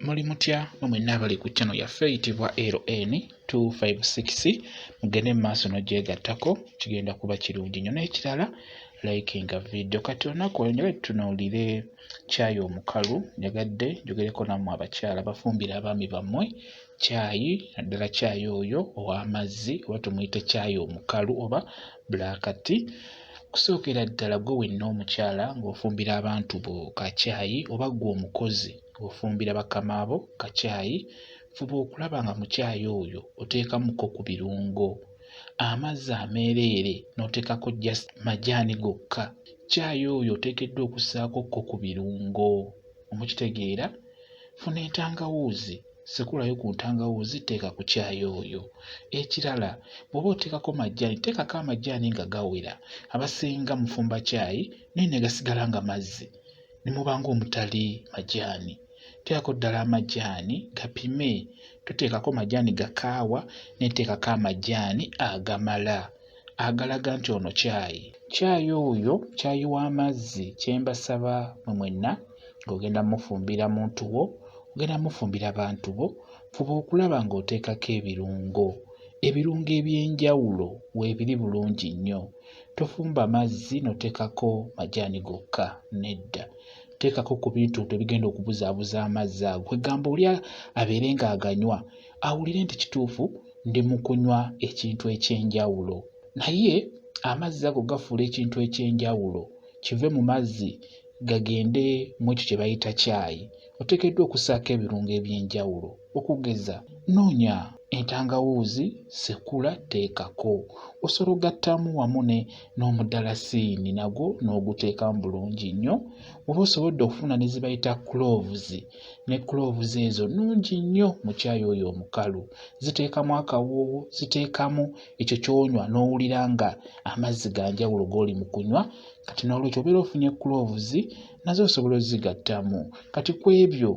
muli mutya mwe mwenna abali ku channel yaffe eyitibwa ln 256 mugende mu maaso n'ogyegattako kigenda kuba kirungi nnyo n'ekirala likinga vidiyo kati olunaku olwo njagadde tutunuulire caayi omukalu njagadde njogereko nammwe abakyala bafumbira abaami bammwe caayi naddala caayi oyo ow'amazzi oba tumuyite caayi omukalu oba bulaakati okusookera ddala gwe wenna omukyala ng'ofumbira abantu bo ka caayi oba gwe omukozi Bw'ofumbira bakama bo ka caayi, fuba okulaba nga mu caayi oyo oteekamuko ku birungo, amazzi ameereere n'oteekako just majaani gokka. Caayi oyo oteekeddwa okussaako ko ku birungo. Mukitegeera? Funa entangawuuzi, sekulayo ku ntangawuuzi teeka ku caayi oyo. Ekirala bw'oba oteekako majaani teekako amajaani nga gawera. Abasinga mufumba caayi naye ne gasigala nga mazzi. ne muba ng'omutali majaani. Teekako ddala amajaani gapime. Toteekako majaani ga kaawa naye teekako amajaani agamala agalaga nti ono caayi. Caayi oyo caayi w'amazzi kye mbasaba mwe mwenna ng'ogenda mufumbira muntu wo, ogenda mufumbira bantu bo, fuba okulaba ng'oteekako ebirungo. Ebirungo eby'enjawulo weebiri bulungi nnyo. Tofumba mazzi n'oteekako majaani gokka, nedda. Teekako ku bintu ebyo ebigenda okubuzaabuza amazzi ago. Kwegamba oli abeere ng'aganywa awulire nti kituufu ndi mu kunywa ekintu eky'enjawulo. Naye amazzi ago gafuula ekintu eky'enjawulo kive mu mazzi gagende mu ekyo kye bayita caayi. oteekeddwa okussaako ebirungo eby'enjawulo okugeza noonya entangawuuzi, sekula, teekako osolo gattamu wamu ne n'omudalasiini nagwo n'oguteekamu bulungi nnyo oba osobodde okufuna ne ze bayita cloves ne cloves ezo nnungi nnyo mu caayi oyo omukalu ziteekamu akawoowo ziteekamu ekyo ky'onywa n'owulira nga amazzi ga njawulo g'oli mu kunywa kati n'olwekyo obeera ofunye cloves nazo osobola ozigattamu kati ku ebyo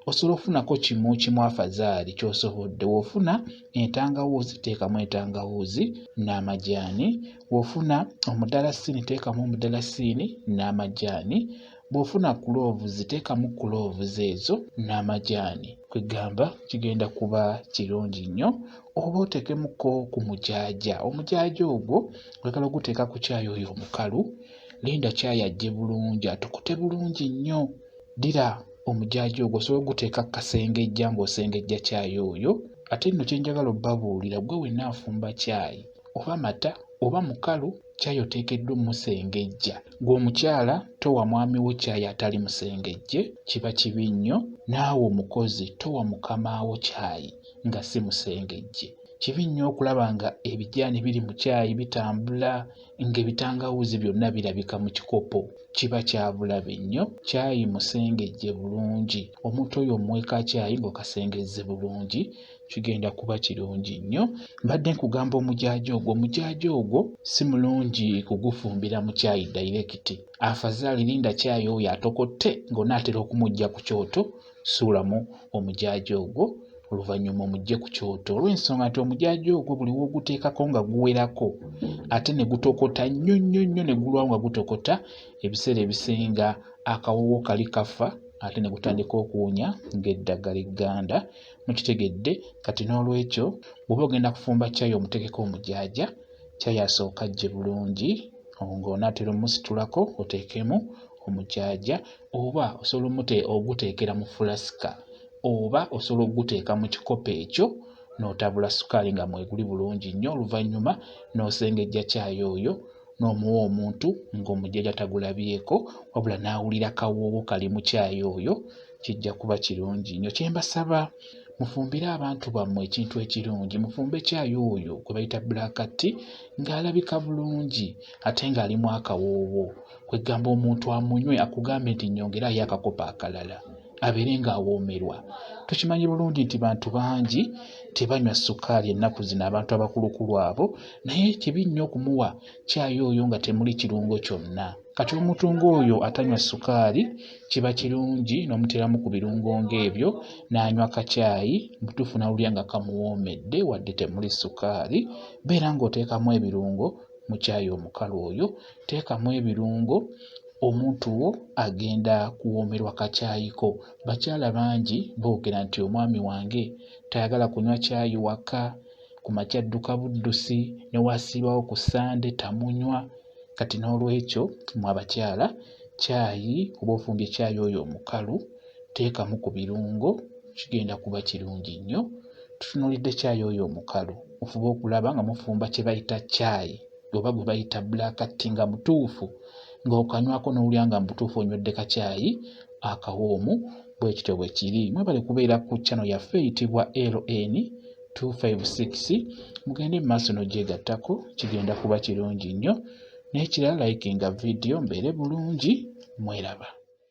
osobola okufunako kimu kimu afazaali kyosobodde wofuna entangawuuzi teekamu entangawuuzi n'amajaani wofuna omudalasiini teekamu omudalasiini n'amajaani bw'ofuna kuloovuzi teekamu kuloovuzi ezo n'amajaani kwegamba kigenda kuba kirungi nnyo oba oteekemuko ku mujaaja omujaaja ogwo oyagala oguteeka ku kyayi oyo omukalu linda kyayi ajje bulungi atukute bulungi nnyo ddira omujaaji ogwo osobola oguteeka kasengejja ng'osengejja kyayi oyo ate nno kye njagala obabuulira gwe wenna afumba kyayi oba mata oba mukalu kyayi oteekeddwa omusengejja gwe omukyala towa mwami wo kyayi atali musengejje kiba kibi nnyo naawe omukozi towa mukamaawo kyayi nga si musengejje kibi nnyo okulaba nga ebijaani biri mu kyayi bitambula ng'ebitangawuuzi byonna birabika mu kikopo kiba kyabulabe nnyo kyayi musengejje bulungi omuntu oyo omuweeka kyayi ng'okasengezze bulungi kigenda kuba kirungi nnyo mbadde nkugamba omujaaja ogwo omujaaja ogwo si mulungi kugufumbira mu kyayi dayirekiti afazaali linda kyayi oyo atokotte ng'onaatera okumujja ku kyoto Suulamu omujaaja ogwo oluvannyuma omujje ku kyoto olw'ensonga nti omujaaja ogwo buli w'oguteekako nga guwerako ate ne gutokota nnyo nnyo nnyo ne gulwawo nga gutokota ebiseera ebisinga akawoowo kali kafa ate ne gutandika okuwunya ng'eddagala egganda mukitegedde kati n'olwekyo bw'oba ogenda kufumba caayi omuteekeko omujaaja caayi asooka ajje bulungi ng'onaatera omusitulako oteekemu omujaaja oba osobola omute oguteekera mu fulasika oba osobola okuguteeka mu kikopo ekyo n'otabula sukaali nga mweguli bulungi nnyo oluvannyuma n'osengejja caayi oyo n'omuwa omuntu ng'omujjaja tagulabyeko wabula n'awulira kawoowo kali mu caayi oyo kijja kuba kirungi nnyo kye mbasaba mufumbire abantu bammwe ekintu ekirungi mufumbe caayi oyo gwe bayita black tea ng'alabika bulungi ate ng'alimu akawoowo kwegamba omuntu amunywe akugambe nti nyongerayo akakopo akalala abeere nga awoomerwa tukimanyi bulungi nti bantu bangi tebanywa sukaali ennaku zino abantu abakulukulu abo naye kibi nnyo okumuwa kyayi oyo nga temuli kirungo kyonna kati omuntu ng'oyo atanywa sukaali kiba kirungi n'omuteeramu ku birungo ng'ebyo n'anywa kacyayi mutuufu nawulira nga kamuwoomedde wadde temuli sukaali beera ng'oteekamu ebirungo mu kyayi omukalu oyo Teekamu ebirungo omuntu wo agenda kuwoomerwa kakyayiko. Bakyala bangi boogera nti omwami wange tayagala kunywa kyayi waka, ku makya adduka buddusi ne wasiibawo ku Ssande tamunywa. Kati n'olwekyo mwe abakyala kyayi oba ofumbye kyayi oyo omukalu teekamu ku birungo kigenda kuba kirungi nnyo. Tutunuulidde kyayi oyo omukalu mufube okulaba nga mufumba kye bayita kyayi oba gwe bayita black tea nga mutuufu ng'okanywako n'owulira nga mubutuufu onywedde kacaayi akawoomu bwe kityo bwe kiri mwebale kubeera ku chano yaffe eyitibwa ln 256 mugende mu maaso n'ogyegattako kigenda kuba kirungi nnyo n'ekirala likinga vidiyo mbeere bulungi mweraba